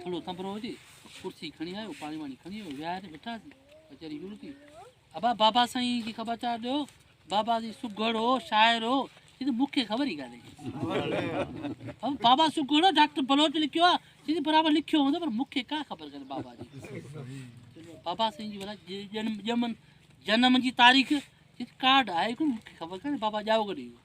ٿورو سنڀرو هجي ڪرسي کڻي آيو پاڻي واڻي کڻي آيو ويهاري ويٺاسي ويچاري شروع ٿي ابا بابا سائين کي خبر چار ڏيو بابا سائين سگهڙ هو شاعر هو چي مون کي خبر ئي ڪانهي ابا بابا سگهڙ هو ڊاڪٽر بلوچ لکيو آ چي برابر لکيو هوندو پر مون کي ڪا خبر ڪانهي بابا جي بابا سائين جي جنم جنم جي تاريخ ڪارڊ آهي مون کي خبر ڪانهي بابا ڄائو ڪڏهن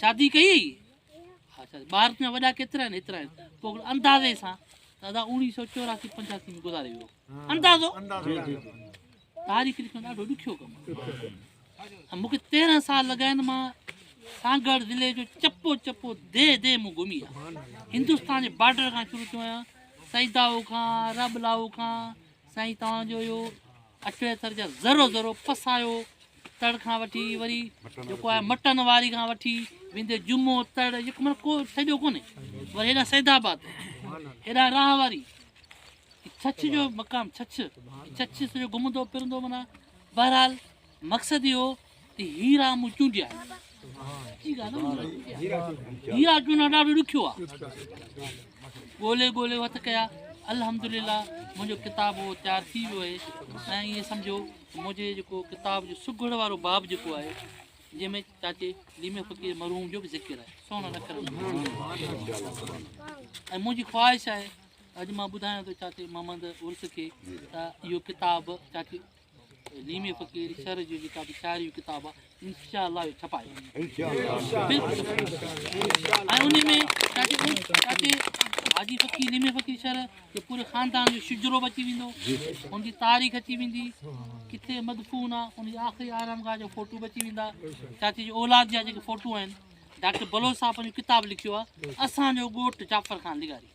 شادي ڪئي هئي؟ ها شادي. ٻار تنهنجا وڏا ڪيترا آهن؟ هيترا آهن. پوء اندازي سان ته ادا اوڻيهه سؤ چوراسي پنجاسي ۾ گذاري ويو. اندازو؟ تاريخ لکڻ ڏاڍو ڏکيو ڪم آهي. مون کي تيرهن سال لڳا آهن. مان سانگهڙ ضلعي جو چپو چپو ديهه ديهه مون گهمي آهي. هندستان جي بارڊر کان شروع ٿيو آهيان. سيدائو کان، رابلاو کان، سائين توهان جو اهو اٽي اٿر جا ذرو ذرو پسايو تڙ کان وٺي وري جيڪو آهي مٽن واري کان وٺي ويندي جمعو تڙ جيڪو مطلب کو ڇڏيو ڪونهي وري هيڏا سيد آباد هيڏا راهه واري ڇڇ جو مقام ڇڇ ڇڇ سڄو گھمندو پھرندو معنی بهرحال مقصد اهو ته هيرا مون چونڊيا هيرا چونڊڻ ڏاڍو ڏکيو آهي ڳولي ڳولي وٿ ڪيا الحمدلله منهنجو ڪتاب اهو تيار ٿي ويو آهي ۽ ائين سمجھو منهنجي جيڪو ڪتاب جو سگهڙ وارو باب جيڪو آهي جنهن ۾ چاچي ليمي فقير مرحوم جو بي ذکر آهي سونا اکر ۽ منهنجي خواهش آهي اڄ مان ٻڌايان ٿو چاچي محمد عرس کي ته اهو ڪتاب چاچي ليمي فقير شر جو جيڪا به شاعري جو ڪتاب آهي انشاء الله اهو ڇپائي حاجي فقير ليمي فقير شر جو پوري خاندان جو شجرو به اچي ويندو ان جي تاريخ اچي ويندي ڪٿي مدفون آ ان جي آخري آرام گاهه جو فوٽو به اچي ويندا چاچي جي اولاد جا جيڪي فوٹو آهن ڊاڪٽر بلوچ صاحب جو ڪتاب لکيو آهي اسانجو ڳوٺ جعفر خان لغاري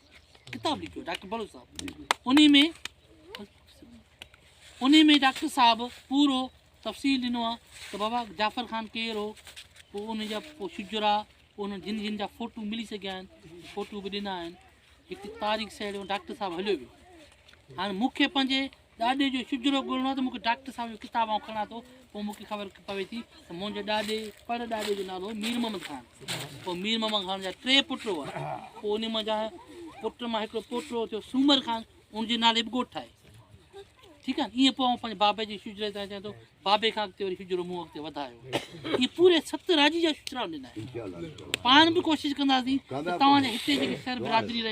ڪتاب لکيو ڊاڪٽر بلوچ صاحب ان میں انهي ۾ ڊاڪٽر صاحب پورو تفصيل ڏنو آ ته بابا جعفر خان ڪير هو پوء ان جا پوء شجرا پوء انهن جن جن جا فوٽو ملي سگهيا آهن فوٽو به ڏنا آهن هڪ تاريخ سهيڙيو ڊاڪٽر صاحب هليو ويو هاڻي مونکي پنهنجي ڏاڏي جو شجرو ڳولڻو آ ته مونکي ڊاڪٽر صاحب جو ڪتاب آئون کڻان ٿو پوء مونکي خبر پوي ٿي ته منهنجي ڏاڏي پڙ ڏاڏي جو نالو مير محمد خان پوء مير محمد خان جا ٽي پٽ هئا پوء ان منهنجا پٽ مان هڪڙو پوٽو ٿيو سومر خان ان جي نالي به ڳوٺ آهي ٺيڪ آهي ائين پوء پنهنجي بابي جي شجري تان چوان ٿو بابي کان اڳتي وري شجرو مون اڳتي وڌايو ائين پوري ست راجي جا شجرا ڏنا آهن پاڻ به ڪوشش ڪنداسين ته توهان جي هتي جيڪي شهر برادري رهي